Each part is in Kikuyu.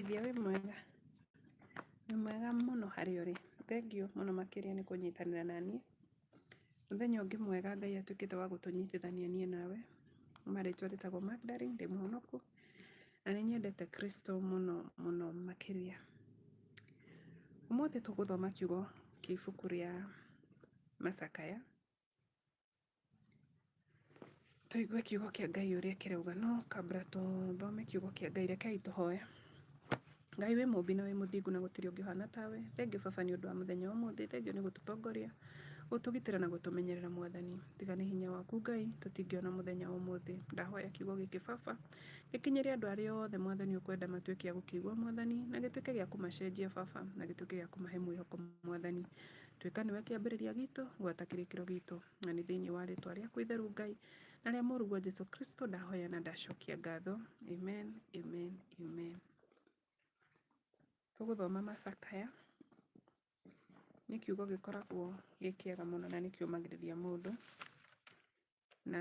Mũthikithia wĩ mwega? Wĩ mwega mũno harĩa ũrĩ. Thengiũ mũno makĩria nĩ kũnyitanĩra na niĩ. Mũthenya ũngĩ mwega Ngai atuĩkĩte wa gũtũnyitithania niĩ nawe. Kuma rĩtwa rĩtagwo Magdalene, ndĩ mũhonokũ, na nĩ nyendete Kristo mũno mũno makĩria. Ũmũthĩ tũgũthoma kiugo kĩa ibuku rĩa Macakaya. tũigue kiugo kĩa ngai ũrĩa kĩrauga no kambra tũthome kiugo kĩa ngai rekei tũhoe ngai wĩ mũmbi na wĩ mũthingu na gũtirĩ ũngĩ ũhana tawe thengiũ baba nĩ ũndũ wa mũthenya wa ũmũthĩ thengiũ nĩ gũtũtongoria gũtũgitĩra na gũtũmenyerera mwathani tiga nĩ hinya waku ngai tũtingĩona mũthenya wa ũmũthĩ ndahoya kiugo gĩkĩ baba gĩkinyĩre andũ arĩa othe mwathani ũkwenda matuĩke a gũkĩigua mwathani na gĩtuĩke gĩa kũmacenjia baba na gĩtuĩke gĩa kũmahe mwĩhoko mwathani Tuĩka nĩwe kĩambĩrĩria gitũ, gwata kĩrĩkĩro gitũ, na nĩ thĩinĩ wa rĩtwa rĩaku itheru Ngai na rĩa mũruguo Jesu Kristo ndahoya na ndacokia ngatho. Amen, amen, amen. Tũgũthoma macakaya nĩ kiugo gĩkoragwo gĩ kĩega mũno na nĩ kĩũmagĩrĩria mũndũ na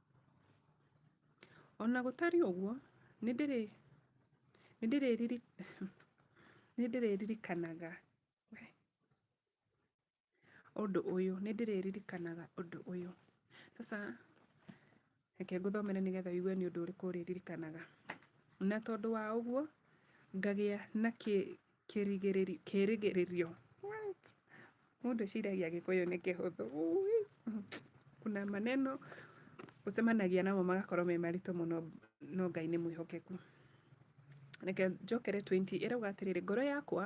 O na gũtariĩ ũguo, nĩ ndĩrĩririkanaga ũndũ ũyũ, nĩ ndĩrĩririkanaga ũndũ ũyũ. Sasa reke ngũthomere nĩgetha ũigue nĩ ũndũ ũrĩkũ ũrĩririkanaga. Na tondũ wa ũguo, ngagĩa na kĩ... Kĩrigĩrĩrio, kĩrĩgĩrĩrio, what? Mũndũ eciragia gĩkũyũ nĩ kĩhũthũ, ũĩ, kuna maneno ũcemanagia namo magakorwo me maritũ mũno no Ngai nĩ mwĩhokeku. Reke njokere 20 ĩrauga atĩrĩrĩ, ngoro yakwa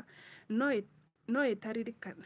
no ĩ- no ĩtaririkana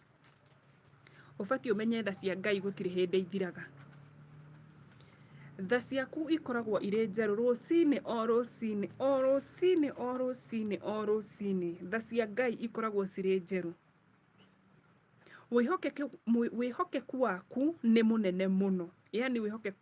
ũbatiĩ ũmenye tha cia Ngai gũtirĩ hĩndĩ ithiraga. Tha ciaku ikoragwo irĩ njerũ rũcinĩ o rũcinĩ o rũcinĩ o rũcinĩ o rũcinĩ tha cia Ngai ikoragwo cirĩ njerũ. Wĩhokeku waku nĩ mũnene mũno, yani wĩhokeku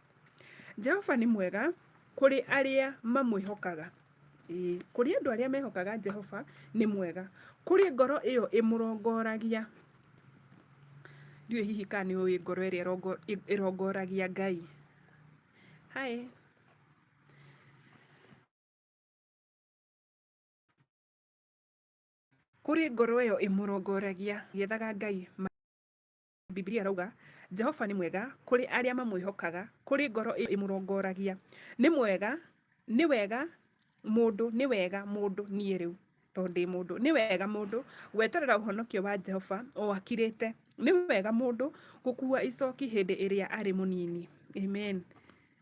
Jehova nĩ mwega kũrĩ arĩa mamwĩhokaga. Ĩĩ, kũrĩ andũ arĩa mehokaga Jehova nĩ mwega. Kũrĩ ngoro ĩyo ĩmũrongoragia. Ndiũĩ hihi kana nĩ ũĩ ngoro ĩrĩa ĩrongo- ĩ- ĩrongoragia Ngai. Hi. Kũrĩ ngoro ĩyo ĩmũrongoragia, ĩgĩethaga Ngai ma- Bibilia ĩrauga, Jehova nĩ mwega kũrĩ arĩa mamwĩhokaga, kũrĩ ngoro ĩyo ĩmũrongoragia. Nĩ mwega, nĩ wega mũndũ, nĩ wega mũndũ niĩ rĩu tondũ ndĩ mũndũ. Nĩ wega mũndũ gweterera ũhonokio wa Jehova o akirĩte. Nĩ wega mũndũ gũkua icoki hĩndĩ ĩrĩa arĩ mũnini. Amen.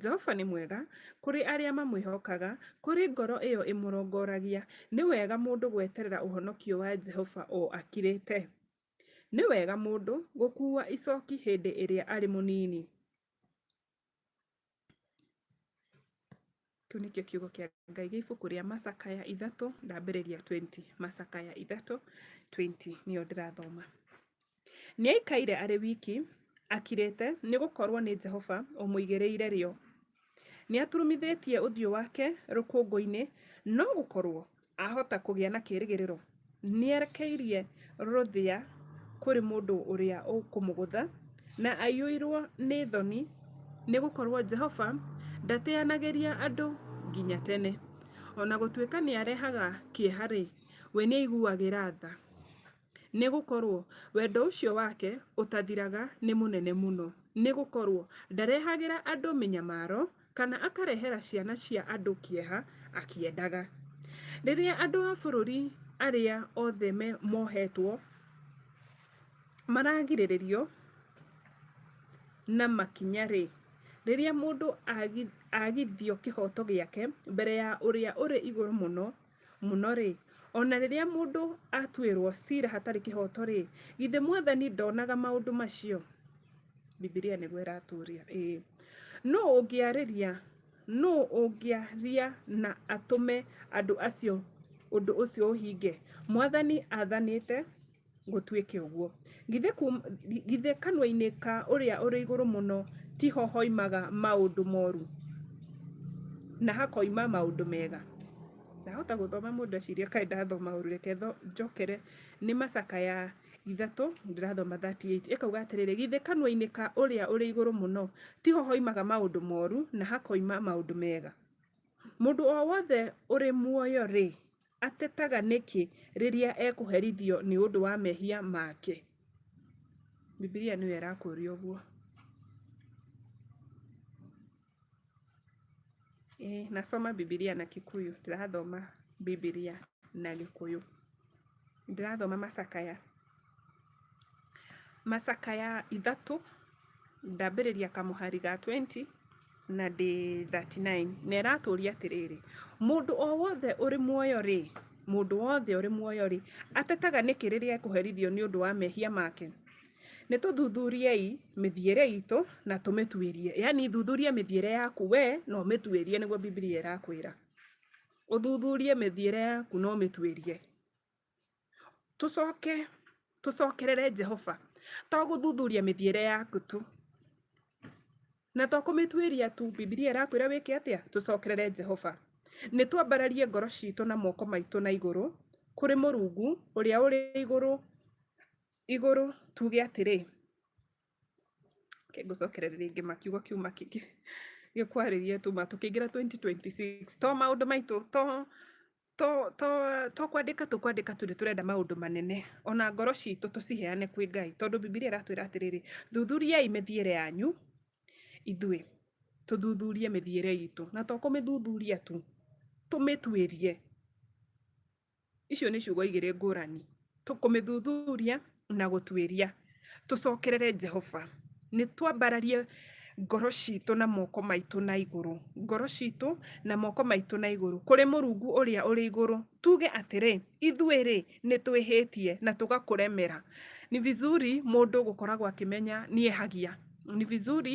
Jehova nĩ mwega kũrĩ arĩa mamwĩhokaga, kũrĩ ngoro ĩyo ĩmũrongoragia. Nĩ wega mũndũ gweterera ũhonokio wa Jehova o akirĩte. Nĩ wega mũndũ gũkuua icoki hĩndĩ ĩrĩa arĩ mũnini. Kĩu nĩkĩo kiugo kĩa Ngai gĩ ibuku rĩa Macakaya ithatũ ndambĩrĩria 20. Macakaya ithatũ 20 nĩyo ndĩrathoma. Nĩaikaire arĩ wiki, akirĩte, nĩ gũkorũo nĩ Jehova ũmũigĩrĩire rĩo. Nĩaturumithĩtie ũthiũ wake rũkũngũ-inĩ, no gũkorũo ahota kũgĩa na kĩĩrĩgĩrĩro, nĩerekeirie rũthĩa kũrĩ mũndũ ũrĩa ũkũmũgũtha, na aiyũirũo nĩ thoni, nĩ gũkorũo Jehova ndateanagĩria andũ nginya tene. O na gũtuĩka nĩarehaga kĩeha-rĩ, we nĩaiguagĩra tha. Nĩ gũkorũo wendo ũcio wake ũtathiraga nĩ mũnene mũno, nĩ gũkorũo ndarehagĩra andũ mĩnyamaro kana akarehera ciana cia andũ kĩeha akĩendaga. Rĩrĩa andũ a bũrũri arĩa othe mohetwo maragirĩrĩrio na makinya-rĩ, rĩrĩa mũndũ agithio kĩhoto gĩake mbere ya Ũrĩa-ũrĩ-Igũrũ-Mũno, mũno-rĩ, o na rĩrĩa mũndũ atuĩrũo cira hatarĩ kĩhooto-rĩ, githĩ Mwathani ndonaga maũndũ macio? Bibilia nĩguo ĩratũũria. Ĩĩ. Nũũ ũngĩarĩria, nũũ ũngĩaria na atũme andũ acio ũndũ ũcio ũhinge? Mwathani athanĩte, gũtuĩke ũguo. Githĩ, kum, githĩ kanua-inĩ ka ũrĩa ũrĩ igũrũ mũno tiho hoimaga maũndũ moru na hakoima maũndũ mega? Ndahota gũthoma mũndũ eciria kaĩ ndathoma ũru, reke tho- njokere nĩ macakaya ithatũ ndĩrathoma 38 ĩkauga atĩrĩrĩ githĩ kanua-inĩ ka ũrĩa ũrĩ igũrũ mũno tiho hoimaga maũndũ moru na hakoima maũndũ mega Mũndũ o wothe ũrĩ muoyo-rĩ, atetaga nĩkĩ rĩrĩa ekũherithio nĩ ũndũ wa mehia make? Bibilia nĩyo ĩrakũria ũguo. Ĩĩ, nasoma Bibilia na Kikuyu, ndĩrathoma Bibilia na Gĩkũyũ. ndĩrathoma macakaya macakaya ithatũ ndambĩrĩria kamũhari ga 20 na ndĩ 39 na ĩratũria atĩrĩrĩ mũndũ o wothe ũrĩ muoyo rĩ mũndũ wothe ũrĩ muoyo rĩ atetaga nĩkĩ rĩrĩa ekũherithio nĩ ũndũ wa mehia make nĩ tũthuthuriei mĩthiĩre itũ na tũmĩtuĩrie yani thuthuria mĩthiĩre yaku we na ũmĩtuĩrie nĩguo bibilia ĩrakwĩra uthuthurie mithiire yaku no mituirie tucoke tucokerere jehova to guthuthuria mithiire yaku tu na to kumituiria tu bibilia irakwira wike atia tucokerere jehova ni twambararie ngoro citu na moko maitu na iguru kuri murungu uria uri iguru iguru tuge atiri okay, ngũcokerere rĩngĩ makiugo kiu makĩngĩ gĩkwarĩria tuma tũkĩingĩra 2026 to maũndũ maitũ to to to to kwandĩka tũkwandĩka tũrĩ tũrenda maũndũ manene ona ngoro citũ tũciheane kwĩ ngai tondũ bibilia ĩratwĩra atĩrĩrĩ thuthuriai mĩthiĩre yanyu ithuĩ tũthuthurie mĩthiĩre itũ na to kũmĩthuthuria tu tũmĩtuĩrie icio nĩ ciugo igĩrĩ ngũrani tũkũmĩthuthuria na gũtuĩria tũcokerere jehova nĩ twambararie ngoro citũ na moko maitũ na igũrũ ngoro citũ na moko maitũ na igũrũ kũrĩ mũrungu ũrĩa ũrĩ igũrũ tuge atĩrĩ ithuĩ rĩ nĩ twĩhĩtie na tũgakũremera ni vizuri mũndũ gũkoragwo akĩmenya niĩ hagia ni vizuri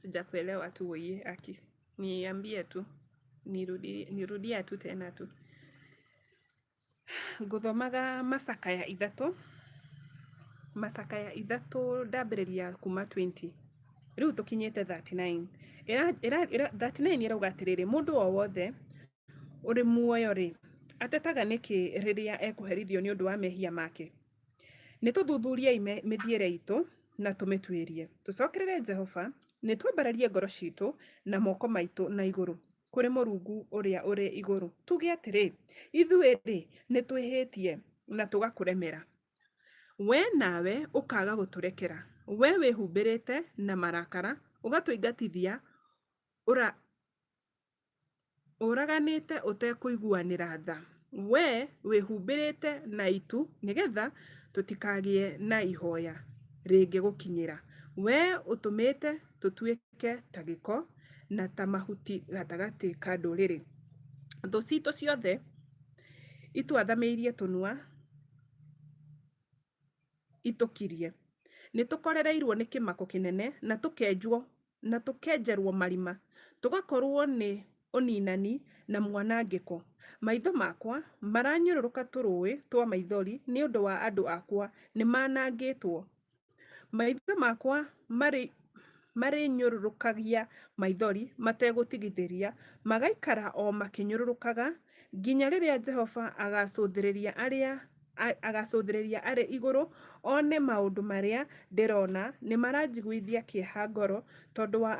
Sijakuelewa tu weye aki. Niambie tu. Nirudia tu tena tu. Ngũthomaga macakaya ithatũ, macakaya ithatũ ndambĩrĩria kuma twenty, rĩu tũkinyĩte thirty nine. Thirty nine ĩrauga atĩrĩrĩ, mũndũ o wothe ũrĩ muoyo-rĩ, atetaga nĩkĩ rĩrĩa ekũherithio nĩ ũndũ wa mehia make? Nĩ tũthuthuriei mĩthiĩre itũ na tũmĩtuĩrie. Tũcokerere Jehova, nĩ twambararie ngoro citũ na moko maitũ na igũrũ kũrĩ Mũrungu ũrĩa ũrĩ igũrũ, tuge atĩrĩ, Ithuĩ-rĩ, nĩ twĩhĩtie na tũgakũremera. Wee nawe ũkaaga gũtũrekera. Wee wĩhumbĩrĩte na marakara, ũgatũingatithia, Ũraganĩte ũtekũiguanĩra tha, wee wĩhumbĩrĩte na itu nĩ getha tũtikagĩe na ihoya rĩngĩgũkinyĩra, wee ũtũmĩte tũtuĩke ta gĩko na ta mahuti gatagatĩ ka ndũrĩrĩ. Thũ citũ ciothe itwathamĩirie tũnua itũkirie, nĩ tũkorereirwo nĩ kĩmako kĩnene na tũkenjwo na tũkenjerwo marima, tũgakorwo nĩ ũninani na mwanangĩko. Maitho makwa maranyũrũrũka tũrũĩ twa maithori nĩ ũndũ wa andũ akwa, nĩ manangĩtwo. Maitho makwa marĩ marĩnyũrũrũkagia maithori mategũtigithĩria, magaikara o makĩnyũrũrũkaga, nginya rĩrĩa Jehova agaacũthĩrĩria arĩa agacũthĩrĩria arĩ igũrũ one maũndũ marĩa ndĩrona, nĩ maranjiguithia kĩeha ngoro tondũ wa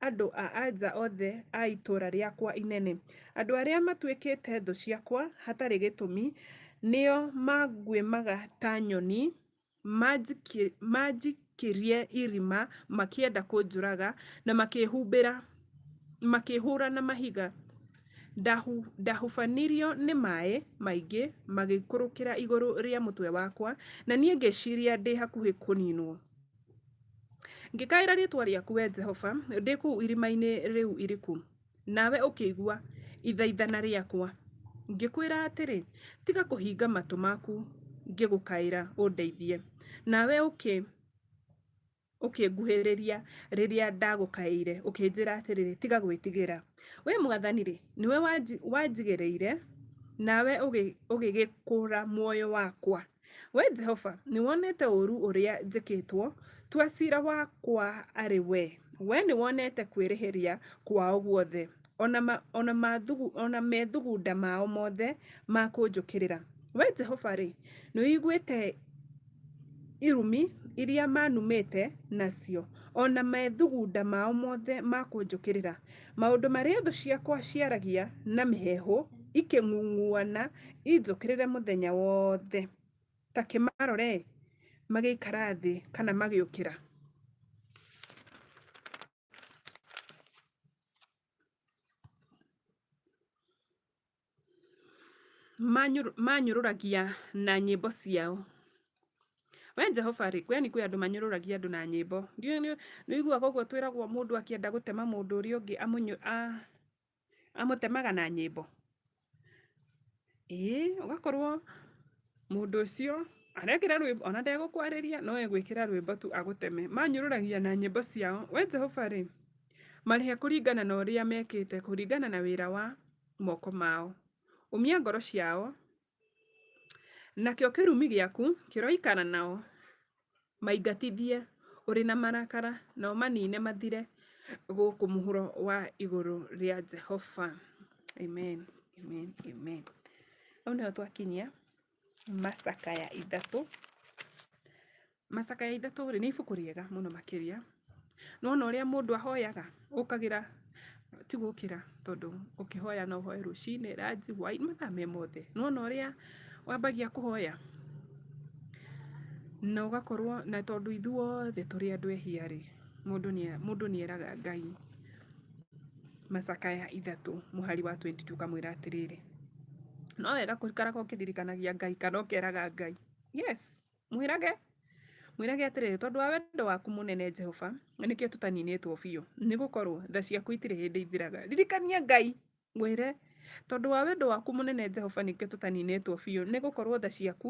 andũ a anja othe a itũũra rĩakwa inene. Andũ arĩa matuĩkĩte thũ ciakwa hatarĩ gĩtũmi, nĩo manguĩmaga ta nyoni. Maanjikĩrie irima makĩenda kũnjũraga, na makĩhumbĩra, makĩhũũra na mahiga. Ndahubanirio nĩ maaĩ maingĩ magĩikũrũkĩra igũrũ rĩa mũtwe wakwa, na niĩ ngĩciria ndĩ hakuhĩ kũninwo. Ngĩkaĩra rĩĩtwa rĩaku, Wee Jehova, ndĩ kũu irima-inĩ rĩu iriku. Nawe ũkĩigua ithaithana rĩakwa, ngĩkwĩra atĩrĩ, Tiga kũhinga matũ maku ngĩgũkaĩra ũndeithie. Nawe ũkĩnguhĩrĩria rĩrĩa ndagũkaĩire, ũkĩnjĩra atĩrĩ, Tiga gwĩtigĩra. Wee Mwathani-rĩ, nĩwe wanjigĩrĩire, nawe ũgĩgĩkũũra muoyo wakwa. We Jehova, nĩwonete ũũru ũrĩa njĩkĩtwo, tua cira wakwa arĩ we. We nĩwonete kwĩrĩhĩria kwao guothe, o na ma, o na mathugu, o na methugunda mao mothe ma kũnjũkĩrĩra. We Jehova-rĩ, nĩũiguĩte irumi iria manumĩte nacio, o na methugunda mao mothe ma kũnjũkĩrĩra. Maũndũ marĩa thũ ciakwa ciaragia na mĩheehũ ikĩng'ung'uana injũkĩrĩre mũthenya wothe, ta kĩmarore, magĩikara thĩ kana magĩũkĩra. Manyũrũ- manyũrũragia na nyĩmbo ciao we jehova rĩ yani kwĩ andũ manyũrũragia andũ na nyĩmbo ndiũĩ nĩ nĩ wĩiguaga ũguo twĩragwo mũndũ akĩenda gũtema mũndũ ũrĩa ũngĩ amũnyũ a- amũtemaga na nyĩmbo ĩĩ ũgakorwo mũndũ ũcio arekĩra rwĩmbo ona ndegũkwarĩria no egwĩkĩra rwĩmbo tu agũteme manyũrũragia na nyĩmbo ciao we jehova rĩ marĩhe kũringana na ũrĩa mekĩte kũringana na wĩra wa. moko mao. Ũmia ngoro ciao, nakĩo kĩrumi gĩaku kĩroikara nao, maingatithie ũrĩ na marakara, na ũmanine mathire gũkũ mũhuro wa igũrũ rĩa Jehova. Amen, amen, amen. Hau nĩho twakinyia. Macakaya Ithatũ. Macakaya Ithatũ rĩ, nĩ ibuku rĩega mũno makĩria. Nĩ wona ũrĩa mũndũ ahoyaga, ũkagĩra, ti gũkĩra, tondũ ũkĩhoya no ũhoe rũcinĩ, ranji, hwainĩ, mathaa me mothe. Nĩ wona ũrĩa wambagia kũhoya, na ũgakorwo, na tondũ ithuothe tũrĩ andũ ehia rĩ, mũndũ nĩ mũndũ nĩ eraga Ngai. macakaya ithatũ mũhari wa 22 kamwĩra atĩrĩrĩ no wega kũikaraga ũkĩririkanagia ngai kana ũkeraga ngai yes mwĩrage mwĩrage atĩrĩrĩ tondũ wa wendo waku mũnene jehova nĩkĩo tũtaninĩtwo biũ nĩ gũkorwo tha ciaku itirĩ hĩndĩ ithiraga ririkania ngai mwĩre tondũ wa wendo waku mũnene jehova nĩkĩo tũtaninĩtwo biũ nĩ gũkorwo tha ciaku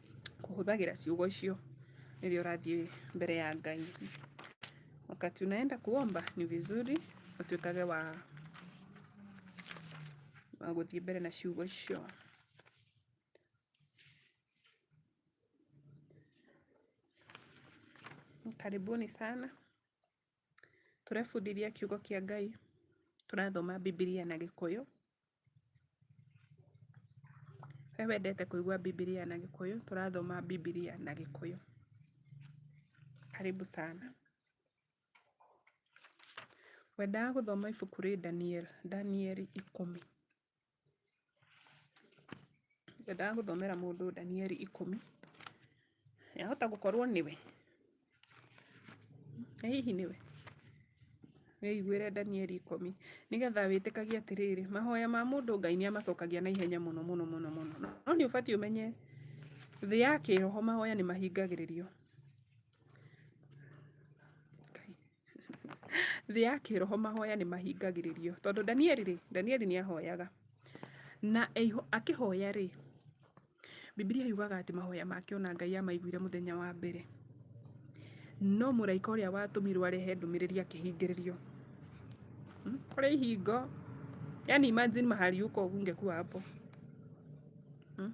kũhũthagĩra ciugo icio rĩrĩa ũrathiĩ mbere ya Ngai. Wakati unaenda kuomba ni vizuri utuĩkage wa wa gũthiĩ mbere na ciugo icio. Karibuni sana. Tũrebundithia kiugo kĩa Ngai, tũrathoma Bibilia na Gĩkũyũ. We wendete kũigua Bibilia na Gĩkũyũ? Tũrathoma Bibilia na Gĩkũyũ. Karibu sana. Wendaga gũthoma ibuku rĩ Danieli, Danieli ikũmi? Ngwendaga gũthomera mũndũ Danieli ikũmi. Yahota gũkorwo nĩwe. Ĩ hihi nĩwe? Wĩiguĩre Danieli ikũmi. Nĩgetha wĩtĩkagie atĩrĩrĩ, mahoya ma mũndũ Ngai nĩ amacokagia na ihenya mũno mũno mũno mũno. No nĩ ũbatiĩ ũmenye thĩ ya kĩroho mahoya nĩ mahingagĩrĩrio. Thĩ ya kĩroho mahoya nĩ mahingagĩrĩrio. Tondũ Danieli rĩ, Danieli nĩ ahoyaga. Na akĩhoya rĩ, Bibilia yugaga atĩ mahoya make ona Ngai amaiguire mũthenya wa mbere. No mũraika ũrĩa watũmirwo arehe ndũmĩrĩri akĩhingĩrĩrio. Hmm? Kũrĩ ihingo. Yani imagine mahali yuko ungekuwa hapo. Hmm?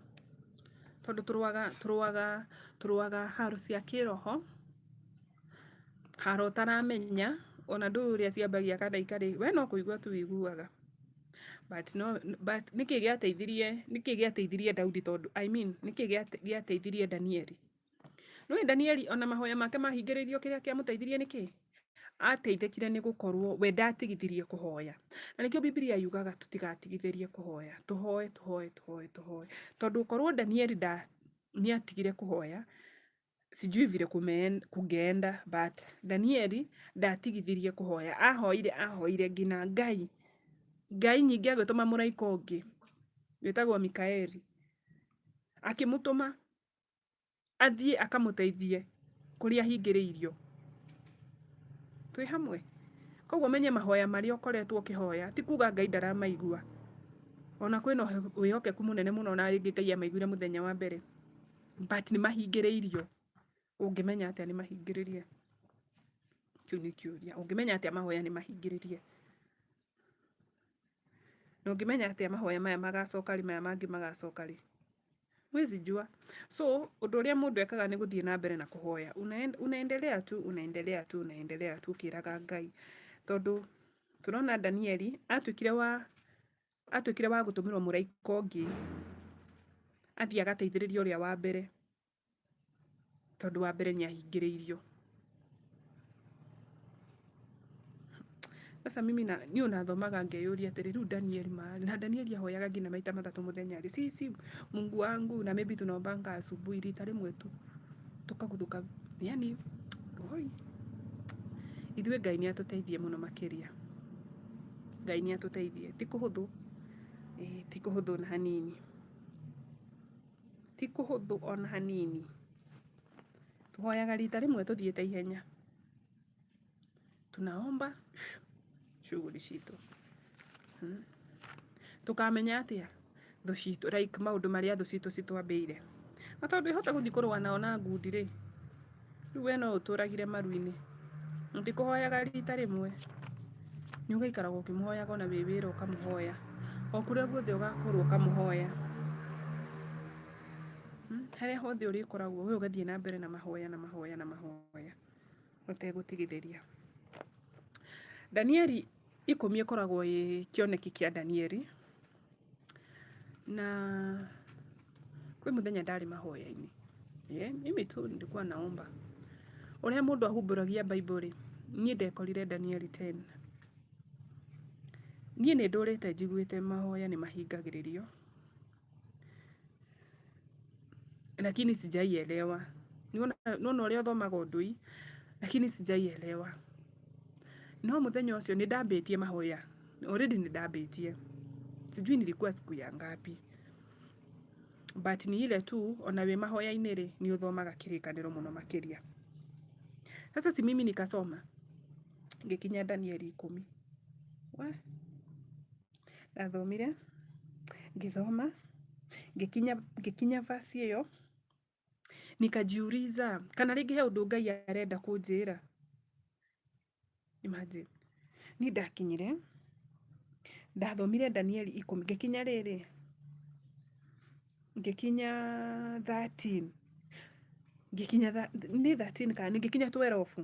Tondũ tũrũaga tũrũaga tũrũaga haro cia kĩroho. Haro ũtaramenya ona ndũĩ ũrĩa ciambagia kana ikarĩ we no kũigua tu wĩiguaga but no but nĩkĩ gĩateithirie nĩkĩ gĩateithirie Daudi tondũ I mean nĩkĩ gĩate- gĩateithirie Danieli nĩwe Danieli ona mahoya make mahingĩrĩirio kĩrĩa kĩamũteithirie nĩkĩ ateithĩkire nĩ gũkorwo we ndatigithirie kũhoya na nĩkĩo Biblia yugaga tũtigatigithĩrie kũhoya tũhoe tũhoe tũhoe tũhoe tondũ korwo Danieli nda nĩatigire kũhoya sijui vile kumeen- kungeenda but danieli ndatigithirie kuhoya ahoire ahoire ngina ngai ngai nyingĩ agĩtũma mũraika ũngĩ wĩtagwo mikaeli akĩmũtũma athiĩ akamũteithie kũrĩa ahingĩrĩirio twĩ hamwe koguo menye mahoya marĩa ũkoretwo ũkĩhoya ti kuga ngai ndaramaigua ona kwĩna ũhe- wĩhokeku mũnene mũno na rĩngĩ ngai amaiguire mũthenya wa mbere but nĩ mahingĩrĩirio ũngĩmenya atĩa nĩ mahingĩrĩrie kĩu nĩ kĩũria ũngĩmenya atĩa mahoya nĩ mahingĩrĩrie na ũngĩmenya atĩa mahoya maya magacoka rĩ maya mangĩ magacoka rĩ huwezi jua so ũndũ ũrĩa mũndũ ekaga nĩ gũthiĩ na mbere na kũhoya Unaen- unaendelea tu unaendelea tu unaendelea tu ũkĩraga ngai tondũ tũrona danieli atuĩkire wa atuĩkire wa gũtũmĩrwo mũraika ũngĩ athiĩ agateithĩrĩria ũrĩa wa mbere tondũ wa mbere nĩ ahingĩrĩirio. Sasa mimi na niĩ ũnathomaga ngeyũria atĩrĩ rĩu Danieli ma na Danieli ahoyaga nginya maita matatũ mũthenya rĩ si si Mungu wangu na maybe tunaombanga asubuhi rita rĩmwe tu tukaguthũka yani oi ithuĩ Ngai nĩ atũteithie mũno makĩria. Ngai nĩ atũteithie. Ti kũhũthũ, ĩĩ ti kũhũthũ ona hanini. Ti kũhũthũ ona hanini. Tũhoyaga rita rĩmwe tũthiĩte ihenya. Tunaomba shughuli citũ. Tũkamenya atĩa? thũ citũ like maũndũ marĩa thũ citũ citwambĩire na tondũ ĩhote gũthiĩ kũrũa nao na ngundi rĩ rĩu we no ũtũragire maru-inĩ ndikũhoyaga rita rĩmwe nĩ ũgaikaraga ũkĩmũhoyaga ona wĩ wĩra ũkamũhoya o kũrĩa guothe ũgakorwo ũkamũhoya Hmm, harĩa hothe ũrĩkoragwo we ũgathiĩ na mbere na mahoya na mahoya na mahoya ũtegũtigithĩria. Ndanieri ikũmi ĩkoragwo ĩ kĩoneki kĩa Ndanieri, na kwĩ mũthenya ndarĩ mahoya-inĩ Eh, mimi tu nilikuwa naomba ũrĩa mũndũ ahumbũragia Bible-rĩ, niĩ ndekorire Danieli 10 niĩ nĩ ndũrĩte njiguĩte mahoya nĩ mahingagĩrĩrio lakini sijaielewa. Niona niona ũrĩa ũthomaga ũndũ hii lakini sijaielewa. No mũthenya ũcio nĩ ndambĩtie mahoya, already nĩ ndambĩtie, sijui nilikuwa siku ya ngapi but ni ile tu ona wĩ mahoya-inĩ rĩ nĩ ũthomaga kĩrĩkanĩro mũno makĩria. Sasa si mimi nikasoma ngikinya Danieli ikũmi we ndathomire ngĩthoma ngĩkinya ngĩkinya verse ĩyo nikajiuliza kana rĩngĩ he ũndũ ngai arenda kũnjĩra imagine niĩ ndakinyire ndathomire danieli ikũmi ngĩkinya rĩrĩ ngĩkinya 13 ngĩkinya tha- nĩ 13 kana nĩ ngĩkinya 12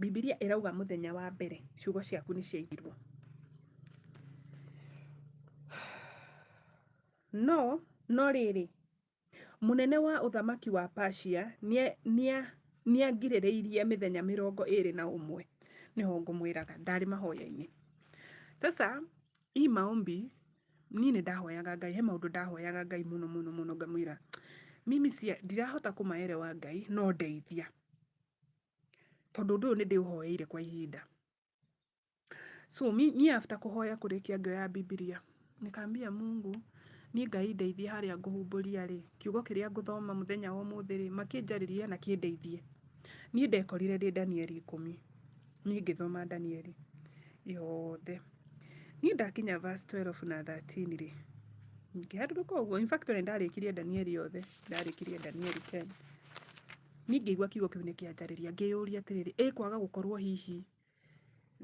Bibilia ĩrauga mũthenya wa mbere ciugo ciaku nĩ ciaigirwo. No no rĩrĩ mũnene wa ũthamaki wa Persia nĩangirĩrĩirie mĩthenya mĩrongo ĩrĩ na ũmwe nĩho ngũmwĩraga ndarĩ mahoya-inĩ. Sasa i maombi niĩ nĩ ndahoyaga ngai he maũndũ ndahoyaga ngai mũno mũno mũno ngamwĩra mimi cia ndirahota kũmaerewa ngai no ndeithia tondũ ũndũ ũyũ nĩ ndĩũhoeire kwa ihinda so mi- niĩ after kũhoya kũrĩkia ngĩoya bibilia nĩkambia mungu niĩ ngai ndeithie harĩa ngũhumbũria rĩ kiugo kĩrĩa ngũthoma mũthenya wa ũmũthĩ rĩ makĩnjarĩrie na kĩndeithie niĩ ndekorire ndĩ danieli ikũmi niĩ ngĩthoma danieli yothe niĩ ndakinya verse 12 na 13 rĩ ngĩharũrũka ũguo in fact ona ndarĩkirie danieli yothe ndarĩkirie danieli 10 niĩ ngĩigua kiugo kĩu nĩkĩanjarĩria ngĩyũria atĩrĩrĩ ĩ kwaga gũkorwo hihi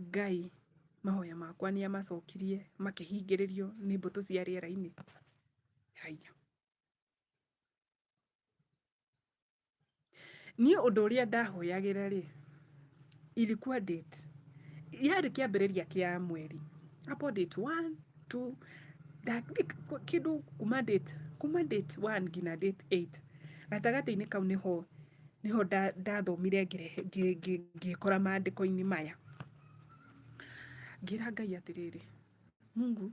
ngai mahoya makwa nĩ amacokirie makĩhingĩrĩrio nĩ mbũtũ cia rĩera-inĩ haiya niĩ ũndũ ũrĩa ndahoyagĩra rĩ ilikuwa date yarĩ kĩambĩrĩria kĩa mweri hapo date one two da- dik- kĩndũ kuma date kuma date one nginya date eight gatagatĩ-inĩ kau nĩho nĩho nda- ndathomire ngĩrehe- ngĩ- ngĩ- ngĩkora maandĩko-inĩ maya ngĩra ngai atĩrĩrĩ mungu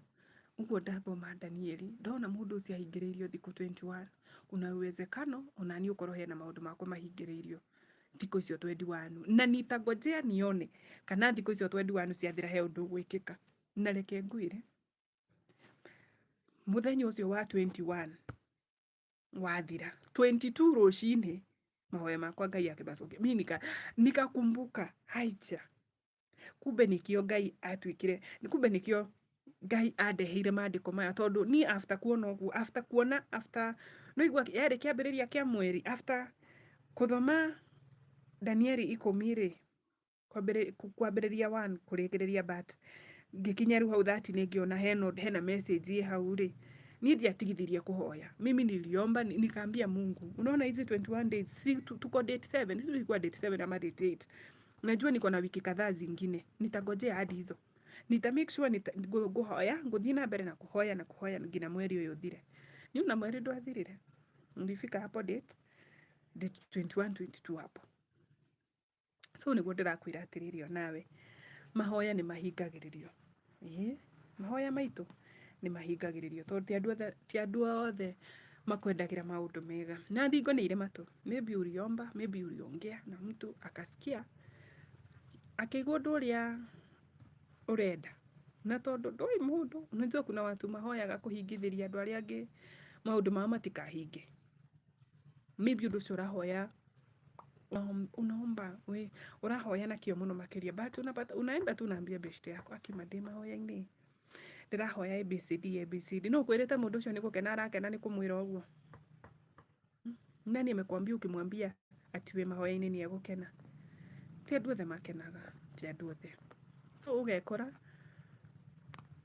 Ũguo ndathoma Danieli, ndona mũndũ ũcio ahingĩrĩirio thikũ 21, kuna uwezekano onani ũkorwo hena maũndũ makwa mahingĩrĩirio thikũ icio 21 na nitangojea nione kana thikũ icio 21 ciathira he ũndũ ũgwĩkĩka na reke ngwĩre mũthenya ũcio wa 21 wathira 22 rũcinĩ mahoya makwa ngai akĩmacokia mi nika nikakumbuka haicha kumbe nikio ngai atwikire kumbe nikio ngai andeheire mandĩko maya tondũ niĩ after kuona ũguo after kuona after no igua yarĩ kĩambĩrĩria kĩa mweri after kũthoma danieli ikũmi rĩ kwambĩrĩria one kũrĩkĩrĩria but ngĩkinya rĩu hau that nĩ ngĩona hena hena message ĩ hau rĩ niĩ ndiatigithirie kũhoya mimi niliomba ni- nikaambia mungu unaona hizi 21 days si tu- tuko date 7 sisi tulikuwa date 7 ama date 8 najua niko na wiki kadhaa zingine nitangojea hadi hizo nita make sure nita- ngũ- ngũhoya ngũthiĩ na mbere na kũhoya na kũhoya nginya mweri ũyũ ũthire niu na mweri ndwathirire ndifika hapo date date 21 22 hapo so niguo ndirakwira atiriri onawe mahoya ni mahingagiririo ii mahoya maitu ni mahingagiririo tondu ti andu othe ti andu othe makwendagira maundu mega na thingo ni ire matu maybe uliomba maybe uliongea na mtu akasikia akigwa undu uria urenda na tondu ndui mundu unajua kuna watu mahoyaga kuhingithiria andu aria angi maundu mao matikahinge maybe undu ucio urahoya unaomba we urahoya na kĩo mũno makĩria but unapata unaenda tu unaambia beshte yako akima ndĩ mahoya-inĩ ndĩrahoya abcd abcd no kwĩrĩte mũndũ ũcio nĩ gũkena arakena nĩ kũmwĩra ũguo Hmm? nani amekwambia ukimwambia ati wĩ mahoya-inĩ nĩ egũkena ti andũ othe makenaga ti andũ othe so ũgekora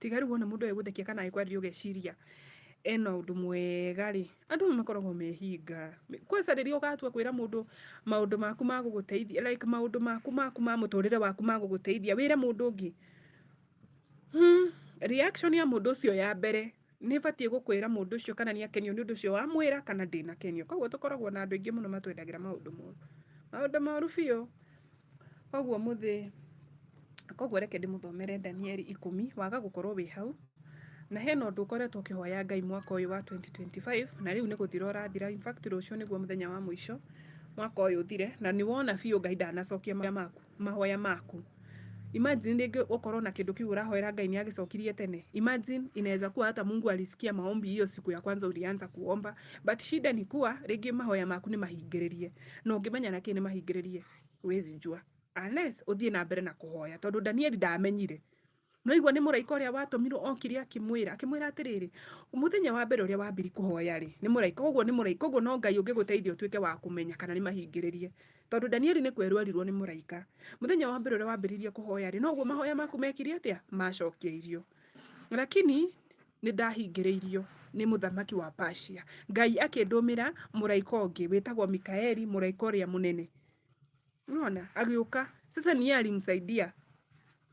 tiga rĩu wona mũndũ egũthekia kana ekwarĩria ũgeciria ena ũndũ mwega rĩ andũ nĩ makoragwo mehinga kwanza rĩrĩa ũgatua kwĩra mũndũ maũndũ maku ma gũgũteithia like maũndũ maku maku ma mũtũrĩre waku ma gũgũteithia wĩre mũndũ ũngĩ hmm, reaction ya mũndũ ũcio ya mbere nĩ batiĩ gũkwĩra mũndũ ũcio kana nĩ akenio nĩ ũndũ ũcio wamwĩra kana ndĩnakenio koguo tũkoragwo na andũ aingĩ mũno matwendagĩra maũndũ moru maũndũ moru biũ koguo mũthĩ koguo reke ndĩmũthomere danieli ikũmi waga gũkorwo wĩ hau na hena ũndũ ũkoretwo ũkĩhoya ngai mwaka ũyũ wa 2025 na rĩu nĩ gũthira ũrathira in fact rũciũ nĩguo mũthenya wa mũico mwaka ũyũ ũthire na nĩ wona biũ ngai ndanacokia maũndũ maku mahoya maku. Imagine rĩngĩ ũkorwo na kĩndũ kĩu ũrahoera Ngai nĩ agĩcokirie tene. Imagine inaweza kuwa hata Mungu alisikia maombi hiyo siku ya kwanza ulianza kuomba, but shida ni kuwa rĩngĩ mahoya maku nĩ mahingĩrĩrie. Na ũngĩmenya na kĩ nĩ mahingĩrĩrie? Wezi jua. Unless ũthiĩ na mbere na kũhoya, tondũ Danieli ndamenyire. noigua nä må raika å rä a watåmirwo okire akĩmwĩra akĩmwĩra atĩrĩrĩ mũthenya wa mbere ũrĩa wambiri kũhoya rĩ nĩ mũraika koguo nĩ mũraika koguo no ngai ũngĩgũteithia ũtuĩke wa kũmenya kana nĩ mahingĩrĩrie tondũ danieli nĩ kwerwo erirwo nĩ mũraika mũthenya wa mbere ũrĩa wambĩrĩirie kũhoya rĩ noguo mahoya maku mekire atĩa macokeirio lakini nĩ ndahingĩrĩirio nĩ mũthamaki wa Persia ngai akĩndũmĩra mũraika ũngĩ wĩtagwo mikaeli mũraika ũrĩa mũnene Unaona? Agĩũka. Sasa ni yeye alimsaidia.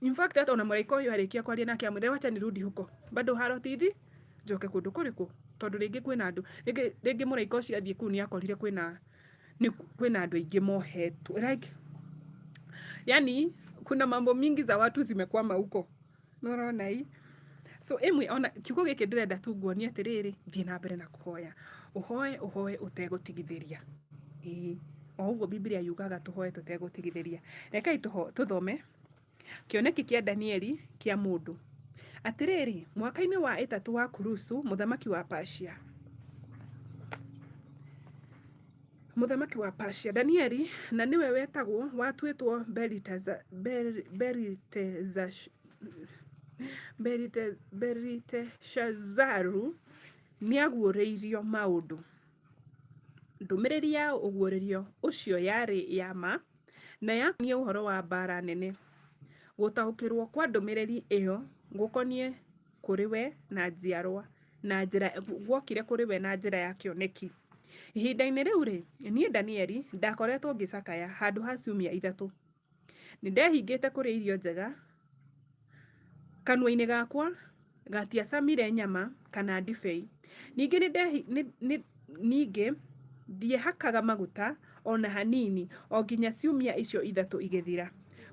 In fact hata ona mũraika ũyũ arĩkia kwaria nake amwĩre wacha nirudi huko. Bado haro tithi njoke kũndũ kũrĩkũ? Tondũ rĩngĩ kwĩna andũ. Rĩngĩ rĩngĩ mũraika ũcio athiĩ kũu nĩakorire kwĩna nĩ kwĩna andũ aingĩ mohetwo. Like yani kuna mambo mingi za watu zimekwama huko. Nĩ ũrona ii? So ĩmwe ona kiugo gĩkĩ ndĩrenda tu nguonie atĩrĩrĩ, thiĩ na mbere na kũhoya. Ũhoe, ũhoe ũtegũtigithĩria. Ĩĩ. O ũguo Biblia yugaga tũhoe tũtegũtigithĩria. Rekei tũho- tũthome kĩoneki kĩa Danieli kĩa mũndũ. Atĩrĩrĩ, mwaka-inĩ wa ĩtatũ wa Kurusu, mũthamaki wa Persia, Mũthamaki wa Persia, Danieli, na nĩwe wetagwo watuĩtwo Belitaza- Bel- Belitezash- Belite- Beliteshazaru nĩaguũrĩirio maũndũ ndũmĩrĩri ya ũguũrĩrio ũcio yarĩ ya ma na yakoniĩ ũhoro wa mbaara nene gũtaũkĩrwo kwa ndũmĩrĩri ĩyo gũkoniĩ kũrĩ we na njiarwa na njĩra guokire kũrĩ we na njĩra ya kĩoneki ihinda-inĩ rĩu rĩ niĩ danieli ndakoretwo ngĩcakaya handũ ha ciumia ithatũ nĩ ndehingĩte kũrĩa irio njega kanua-inĩ gakwa gatiacamire nyama kana ndibei ningĩ nĩ ndehi- nĩ- nĩ- ningĩ ndiehakaga maguta ona hanini o nginya ciumia icio ithatũ igĩthira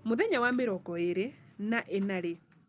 mũthenya wa mĩrongo ĩrĩ na ĩna rĩ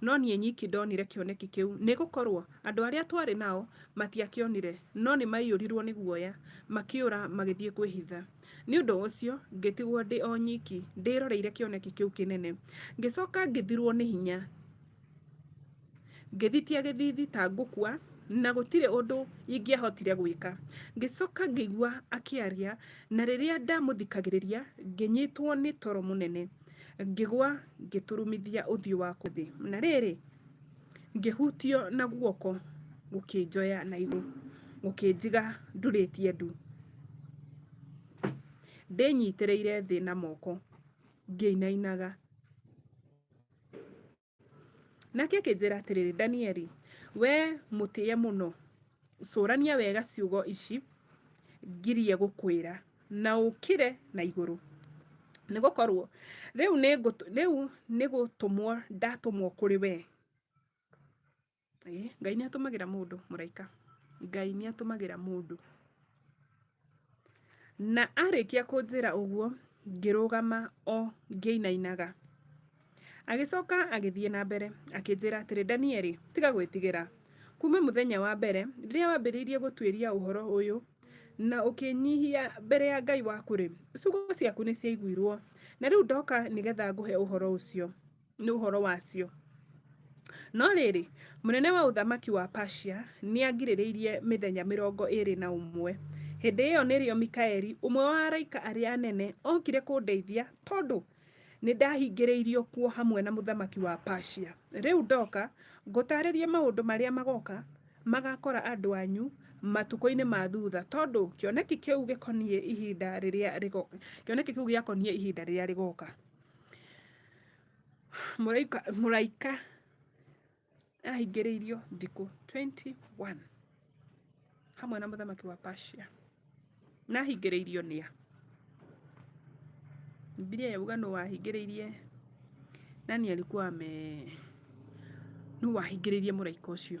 no niĩ nyiki ndonire kĩoneki kĩu, nĩ gũkorũo andũ arĩa twarĩ nao matiakĩonire, no nĩ maaiyũrirũo nĩ guoya, makĩũra magĩthiĩ kwĩhitha. Nĩ ũndũ ũcio ngĩtigwo ndĩ o nyiki, ndĩroreire kĩoneki kĩu kĩnene. Ngĩcoka ngĩthirũo nĩ hinya, ngĩthitia gĩthiithi ta ngũkua, na gũtirĩ ũndũ ingĩahotire gwĩka. Ngĩcoka ngĩigua akĩaria, na rĩrĩa ndamũthikagĩrĩria, ngĩnyitwo nĩ toro mũnene. ngĩgwa ngĩturumithia ũthiũ wakwa thĩ na rĩrĩ ngĩhutio na guoko gũkĩnjoya na igũrũ gũkĩnjiga ndurĩtie ndu ndĩnyitĩrĩire thĩ na moko ngĩinainaga Nake akĩnjĩra atĩrĩrĩ, Danieli, wee mũtĩe mũno, cũrania wega ciugo ici ngirie gũkwĩra, na ũkĩre na igũrũ nĩ gũkorwo rĩu nĩ ngũtũ- rĩu nĩ gũtũmwo ndatũmwo kũrĩ wee ĩĩ ngai nĩ atũmagĩra mũndũ mũraika ngai nĩ atũmagĩra mũndũ na arĩkia kũnjĩra ũguo ngĩrũgama o ngĩinainaga agĩcoka agĩthiĩ na mbere akĩnjĩra atĩrĩ danieli tiga gwĩtigĩra kuma mũthenya wa mbere rĩrĩa wambĩrĩirie gũtuĩria ũhoro ũyũ na ũkĩnyihia mbere ya ngai waku rĩ ciugo ciaku nĩ ciaiguirwo na rĩu ndoka nĩgetha ngũhe ũhoro ũcio nĩ ũhoro wacio. No rĩrĩ, mũnene wa ũthamaki wa Persia nĩangirĩrĩirie mĩthenya mĩrongo ĩĩrĩ na ũmwe. Hĩndĩ ĩyo nĩrĩo Mikaeli, ũmwe wa araika arĩa anene, okire kũndeithia, tondũ nĩndahingĩrĩirio kuo hamwe na mũthamaki wa Persia. Rĩu ndoka ngũtaarĩrie maũndũ marĩa magoka magakora andũ anyu matukũ-inĩ ma thutha, tondũ kĩoneki kĩu gĩkoniĩ ihinda rĩrĩa rĩgo- kĩoneki kĩu gĩakoniĩ ihinda rĩrĩa rĩgoka. mũraika mũraika ahingĩrĩirio thikũ 21 hamwe na mũthamaki wa Persia na ahingĩrĩirio nĩa Biblia yauga nũ wahingĩrĩirie nani alikuwa ame nũ wahingĩrĩirie mũraika ũcio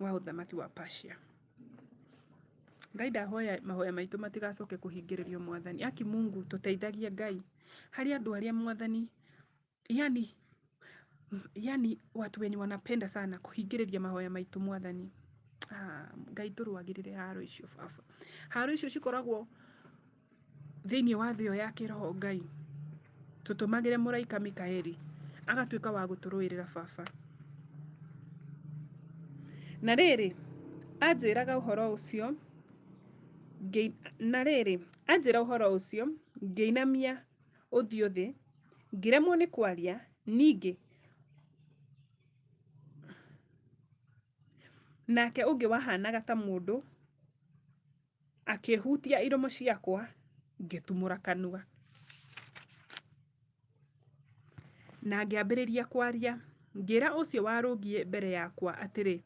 wa ũthamaki wa Persia. Ngai ndahoya mahoya maitũ matigacoke kũhingĩrĩrio mwathani. Aki Mungu tũteithagie Ngai harĩ andũ arĩa mwathani yani yani watu wenye wanapenda sana kuhingĩrĩria mahoya maitũ mwathani ah, ngai tũrũagĩrĩre haro icio baba haro icio cikoragwo thĩinĩ wa thĩ ĩyo ya kĩroho Ngai, tũtũmagĩre mũraika Mikaeli agatuĩka wa gũtũrũĩrĩra baba. Na rĩrĩ, anjĩraga ũhoro ũcio, ngĩ- na rĩrĩ, anjĩra ũhoro ũcio, ngĩinamia ũthiũ thĩ, ngĩremwo nĩ kwaria, ningĩ nake ũngĩ wahanaga ta mũndũ Akĩhutia iromo ciakwa, ngĩtumũra kanua. Na ngĩambĩrĩria kwaria, ngĩra ũcio warũngiĩ mbere yakwa atĩrĩ,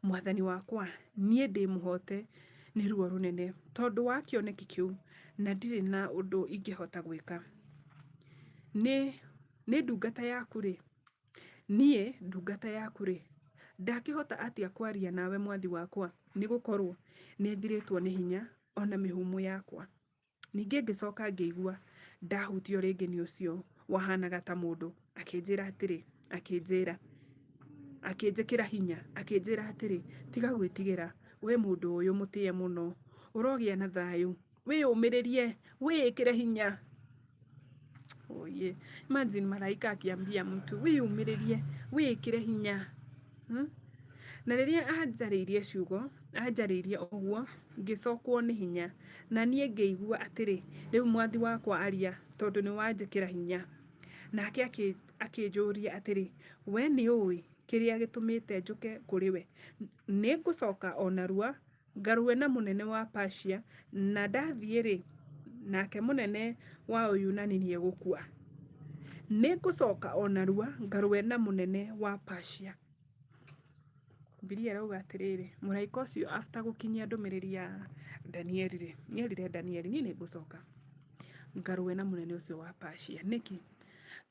Mwathani wakwa, niĩ ndĩ mũhote nĩ ruo rũnene tondũ wa kĩoneki kĩu, na ndirĩ na ũndũ ingĩhota gwĩka. Nĩ, nĩ ndungata yaku-rĩ, Niĩ ndungata yaku-rĩ, ndakĩhota atĩa kwaria nawe mwathi wakwa? Nĩ gũkorũo nĩthirĩtwo nĩ hinya, o na mĩhũmũ yakwa. Ningĩ ngĩcoka ngĩigua ndahutio rĩngĩ nĩ ũcio wahaanaga ta mũndũ, akĩnjĩra atĩrĩ, akĩnjĩra, akĩnjĩkĩra hinya, akĩnjĩra atĩrĩ, Tiga gwĩtigĩra, wee mũndũ ũyũ mũtĩe mũno, ũrogĩa na thayũ. wĩyũmĩrĩrie wĩĩkĩre hinya oye imagine malaika akiambia mtu wĩyũmĩrĩrie wĩĩkĩre hinya hmm? na rĩrĩa anjarĩirie ciugo anjarĩirie ũguo ngĩcokwo nĩ hinya na niĩ ngĩigua atĩrĩ rĩu mwathi wakwa aria tondũ nĩ wanjĩkĩra hinya nake akĩ- akĩnjũria atĩrĩ we nĩ ũĩ kĩrĩa gĩtũmĩte njũke kũrĩ we nĩ ngũcoka o narua Ngarũe na mũnene wa Persia, na ndathiĩ-rĩ, nake mũnene wa Ũyunani nĩegũkua. Nĩngũcoka o narua ngarũe na mũnene wa Persia. Bibilia ĩrauga atĩrĩrĩ, mũraika ũcio after gũkinyia ndũmĩrĩri ya Danieli-rĩ, nĩerire Danieli, niĩ nĩngũcoka ngarũe na mũnene ũcio wa Persia. Nĩkĩ?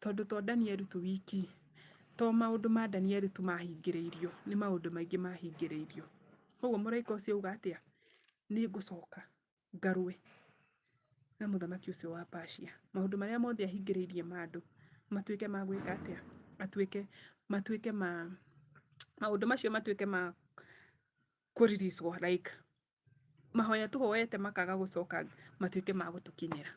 Tondũ to Danieli tu wiki, to maũndũ ma Danieli tu mahingĩrĩirio, nĩ maũndũ maingĩ mahingĩrĩirio. koguo mũraika ũcio uga atĩa nĩ ngũcoka ngarũe na mũthamaki ũcio wa Persia maũndũ marĩa mothe ahingĩrĩirie ma andũ matuĩke ma gwĩka atĩa atuĩke matuĩke ma maũndũ macio matuĩke ma kũriricwo like mahoya tũhoete makaga gũcoka matuĩke ma gũtũkinyĩra.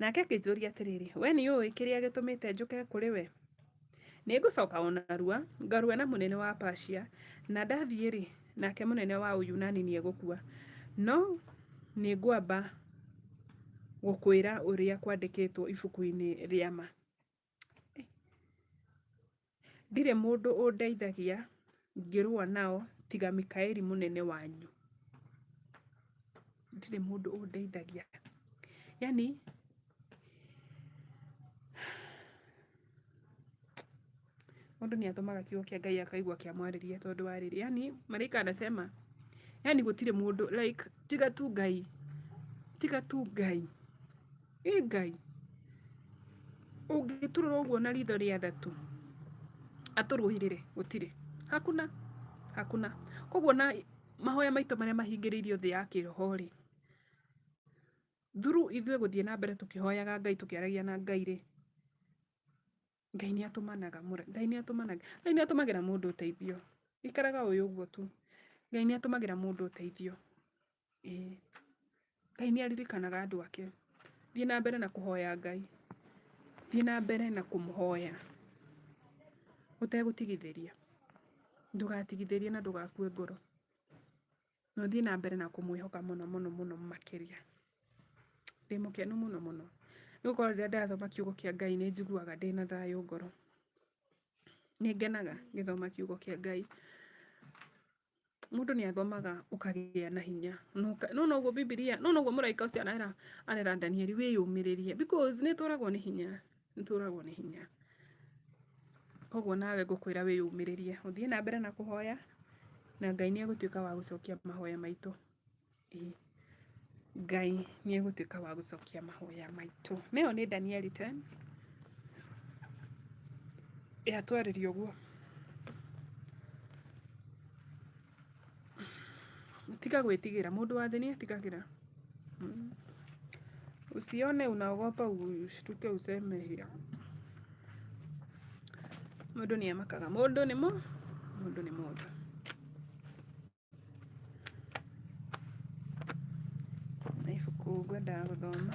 nake akĩnjũria atĩrĩrĩ we nĩ ũĩ kĩrĩa gĩtũmĩte njũke kũrĩ we nĩ ngũcoka o narua ngarue na mũnene wa Persia na ndathiĩ rĩ nake mũnene wa Uyunani nĩ egũkua no nĩ ngwamba gũkwĩra ũrĩa kwandĩkĩtwo ibuku-inĩ rĩa ma Ndirĩ mũndũ ũndeithagia ngĩrũa nao tiga Mikaeli mũnene wanyu. Ndirĩ mũndũ ũndeithagia. Yaani mũndũ nĩ atũmaga kiugo kĩa Ngai akaigua kĩamwarĩria tondũ wa rĩrĩ, yaani maraika anasema, yaani gũtirĩ mũndũ like tiga tu Ngai, tiga tu Ngai. ĩ ngai ũngĩtũrora ũguo na ritho rĩa thatũ atũrũĩrĩre gũtirĩ hakuna hakuna koguo na mahoya maitũ marĩa mahingĩrĩirio thĩ ya kĩroho rĩ through ithuĩ gũthiĩ na mbere tũkĩhoyaga ngai tũkĩaragia na ngai rĩ Ngai nĩ atũmanaga Ngai nĩ atũmanaga Ngai nĩ atũmagĩra mũndũ ũteithio ikaraga ũyũ ũguo tu Ngai nĩ atũmagĩra mũndũ ũteithio ĩĩ Ngai nĩ aririkanaga andũ ake thiĩ na mbere na kũhoya Ngai thiĩ na mbere na kũmũhoya ũtegũtigithĩria ndũgatigithĩrie na ndũgakue ngoro. na ũthiĩ na mbere na kũmwĩhoka mũno mũno mũno makĩria. Ndĩ mũkenu mũno mũno nĩ gũkorwo rĩrĩa ndĩrathoma kiugo kĩa Ngai nĩ njiguaga ndĩ na thayũ ngoro. Nĩ ngenaga ngĩthoma kiugo kĩa Ngai. Mũndũ nĩ athomaga ũkagĩa na hinya. No noguo Bibilia, no noguo mũraika ũcio arera Danieli wĩyũmĩrĩrie because nĩ tũragwo nĩ hinya. nĩtũragwo nĩ hinya koguo nawe ngũkwĩra wĩyumĩrĩrie ũthiĩ na mbere na kũhoya na ngai nĩ egũtuĩka wa gũcokia mahoya maitũ ĩĩ ngai nĩ egũtuĩka wa gũcokia mahoya maitũ nayo nĩ danieli 10 yatwarĩria ũguo Tiga gwĩtigĩra, mũndũ wa thĩ nĩ etigagĩra. Usione unaogopa ushtuke useme hiyo. Mũndũ nĩ amakaga, mũndũ nĩ mũ, mũndũ nĩ mũndũ. Na ibuku ngwendaga gũthoma.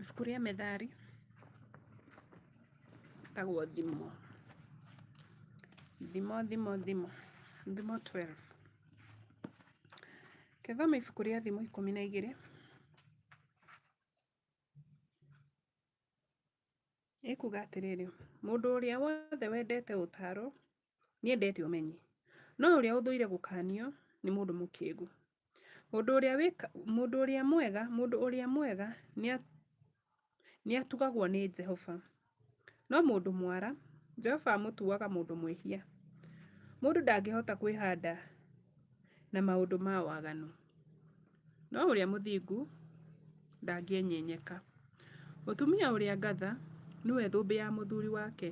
ibuku rĩa methali tagwo thimo thimo thimo thimo thimo 12 Kethoma ibuku rĩa thimo ikũmi na igĩrĩ. Ĩkuga atĩrĩrĩ, mũndũ ũrĩa wothe wendete ũtaaro nĩendete ũmenyi, no ũrĩa ũthũire gũkanio nĩ mũndũ mũkĩgu. Mũndũ ũrĩa wĩka, mũndũ ũrĩa mwega, mũndũ ũrĩa mwega nĩa, nĩ atugagwo nĩ Jehova. No mũndũ mwara, Jehova amũtuaga mũndũ mwĩhia. Mũndũ ndangĩhota kwĩhanda na maũndũ ma waganu, no ũrĩa mũthingu ndangĩenyenyeka. Mũtumia ũrĩa ngatha nĩwe thũmbĩ ya mũthuri wake,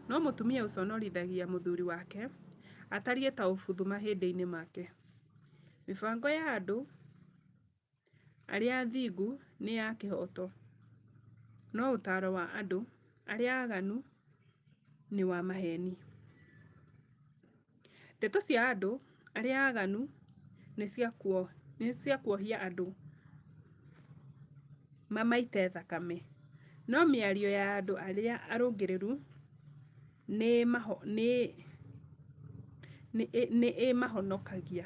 no mũtumia ũconorithagia mũthuri wake atariĩ ta ũbuthu mahĩndĩ-inĩ make. Mĩbango ya andũ arĩa athingu nĩ a kĩhooto, no ũtaaro wa andũ arĩa aaganu nĩ wa maheeni. Ndeto cia andũ arĩa aaganu nĩ cia kuohia andũ mamaite thakame, no mĩario ya andũ arĩa arũngĩrĩru... nĩ ĩmahonokagia.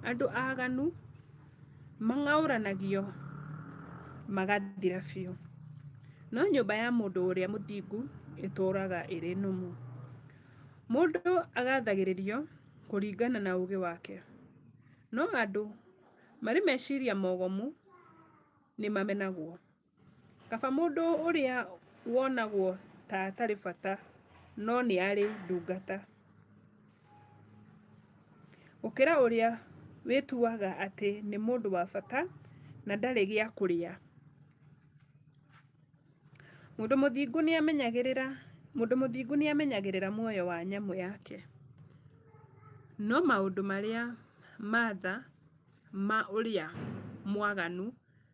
Andũ aganu mang'aũranagio magathira biũ, no nyũmba ya mũndũ ũrĩa mũthingu ĩtũũraga ĩrĩ nũmu. Mũndũ agathagĩrĩrio kũringana na ũũgĩ wake, no andũ marĩ meciria mogomu nĩ mamenagwo. Kaba mũndũ ũrĩa wonagwo ta atarĩ bata no nĩ arĩ ndungata, gũkĩra ũrĩa wĩtuaga atĩ nĩ mũndũ wa bata na ndarĩ gĩa kũrĩa. Mũndũ mũthingu nĩ amenyagĩrĩra, mũndũ mũthingu nĩ amenyagĩrĩra muoyo wa nyamũ yake, no maũndũ marĩa ma tha ma ũrĩa mwaganu...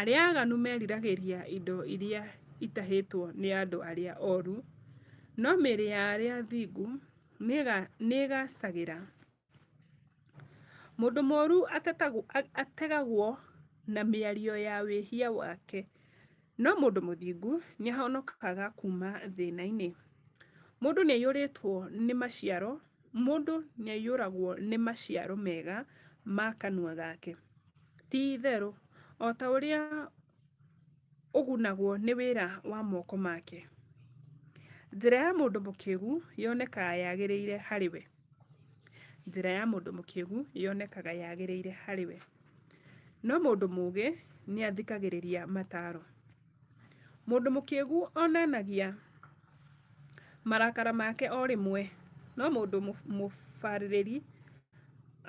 Arĩa aganu meriragĩria indo iria itahĩtwo nĩ andũ arĩa oru, no mĩĩrĩ ya arĩa athingu nĩĩgaacagĩra. Mũndũ mũũru ategagwo na mĩario ya wĩhia wake, no mũndũ mũthingu nĩahonokaga kuuma thĩna-inĩ. Mũndũ nĩaiyũrĩtwo nĩ maciaro Mũndũ nĩaiyũragwo nĩ maciaro mega ma kanua gake. Ti-itherũ, o ta ũrĩa ũgunagwo nĩ wĩra wa moko make, njĩra ya mũndũ mũkĩgu yonekaga yagĩrĩire harĩ we, njĩra ya mũndũ mũkĩgu yonekaga yagĩrĩire harĩ we, no mũndũ mũũgĩ nĩathikagĩrĩria mataaro. Mũndũ mũkĩgu onanagia marakara make o rĩmwe, no mũndũ mũbarĩrĩri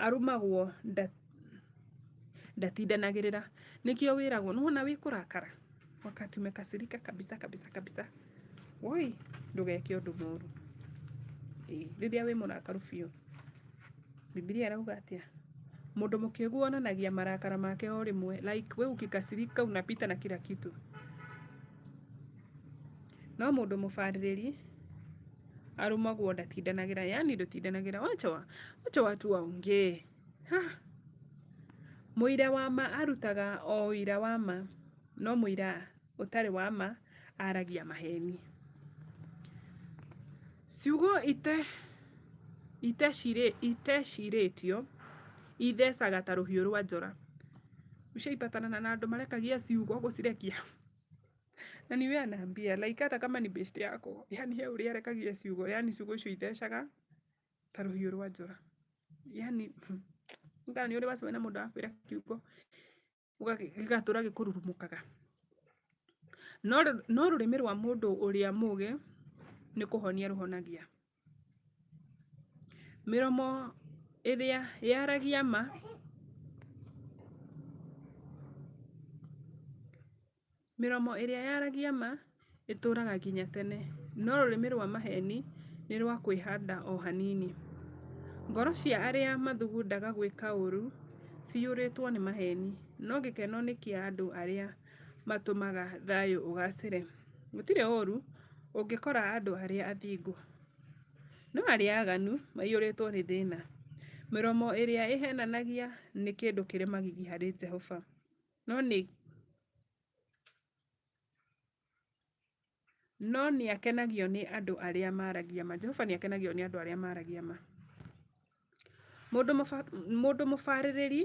arumagwo ndatindanagĩrĩra. Nĩkĩo wĩragwo, nĩwona wĩ kũrakara, wakati umekasirika kabisa kabisa kabisa, woi, ndũgeke ũndũ mũru. Ĩĩ, rĩrĩa wĩ mũrakaru biũ. Bibilia ĩrauga atĩa? Mũndũ mũkĩgu onanagia marakara make o rĩmwe, like we ukikasirika unapita na kila kitu. No mũndũ mũbarĩrĩri arumagwo ndatindanagĩra, yani ndũtindanagĩra, wacha wa- wacha watu waongee. Ha! Mũira wa ma arutaga o ũira wa ma, no mũira ũtarĩ wa ma aragia maheni. Ciugo itecirĩtio ithecaga ta rũhiũ rwa njora. Ushaipatanana na andũ marekagia ciugo gũcirekia? Na niwe anaambia like hata kama ni best yako, yani he ũrĩa arekagia ciugo, yani ciugo icio ithecaga ta rũhiũ rwa njora. Yani kana nĩ ũrĩ wacemania na mũndũ arakwĩra kiugo ũgagĩ- gĩgatũra gĩkũrurumũkaga no rũ- no rũrĩmĩ rwa mũndũ ũrĩa mũgĩ nĩ kũhonia rũhonagia mĩromo ĩrĩa yaragia ma Mĩromo ĩrĩa yaragia ma ĩtũũraga nginya tene, no rũrĩmĩ rwa maheeni nĩ rwa kwĩhanda o hanini. Ngoro cia arĩa mathugundaga gwĩka ũũru ciyũrĩtwo nĩ maheeni, no gĩkeno nĩ kĩa andũ arĩa matũmaga thayũ ũgaacĩre. Gũtirĩ ũũru ũngĩkora andũ arĩa athingu, no arĩa aaganu maiyũrĩtwo nĩ thĩna. Mĩromo ĩrĩa ĩheenanagia nĩ kĩndũ kĩrĩ magigi harĩ Jehova. no nĩ no nĩ akenagio nĩ andũ arĩa maragia ma. Jehova nĩ akenagio nĩ andũ arĩa maragia ma. Mũndũ mũbarĩrĩri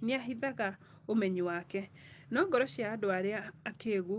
nĩ ahithaga ũmenyi wake, no ngoro cia andũ arĩa akĩgu...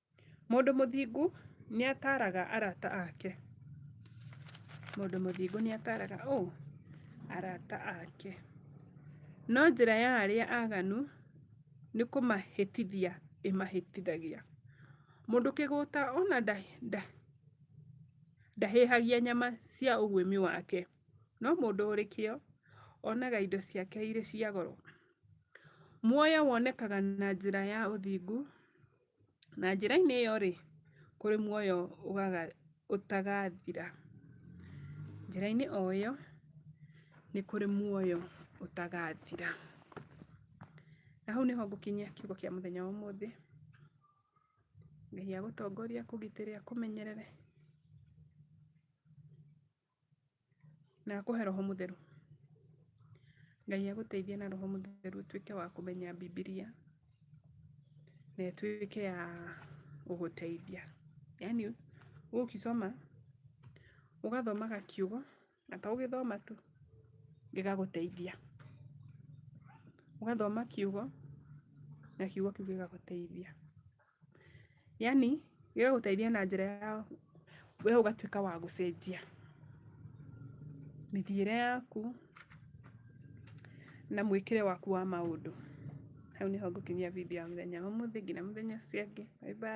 Mũndũ mũthingu nĩ ataaraga arata ake. Mũndũ mũthingu nĩ ataaraga ũũ? Arata ake. No njĩra ya arĩa aganu nĩ kũmahĩtithia ĩmahĩtithagia. Mũndũ kĩgũta ona ndahĩhagia nyama cia ũguĩmi wake, no mũndũ ũrĩ kĩo onaga indo ciake irĩ cia goro. Muoyo wonekaga na njĩra ya ũthingu. Na njĩra-inĩ ĩyo-rĩ, kũrĩ muoyo ũtagathira. Njĩra-inĩ o ĩyo, nĩ kũrĩ muoyo ũtagathira. Na hau nĩho ngũkinyia kiugo kĩa mũthenya wa ũmũthĩ, Ngai agũtongorie, akũgitĩre, akũmenyerere. Na akũhe roho mũtheru. Ngai agũteithie na roho mũtheru ũtuĩke wa kũmenya Bibilia na ĩtuĩke ya gũgũteithia. Yaani ũgũkĩsoma, ũgathomaga kiugo na to gũgĩthoma tu, gĩgagũteithia. Ũgathoma kiugo na kiugo kĩu gĩgagũteithia. yani gĩgũgũteithia na njĩra ya we ũgatuĩka wa gũcenjia mĩthiĩre yaku na mwĩkĩre waku wa maũndũ hau nĩho ngũkinyia video ya mũthenya wa ũmũthĩ nginya mũthenya ũcio ũngĩ bye bye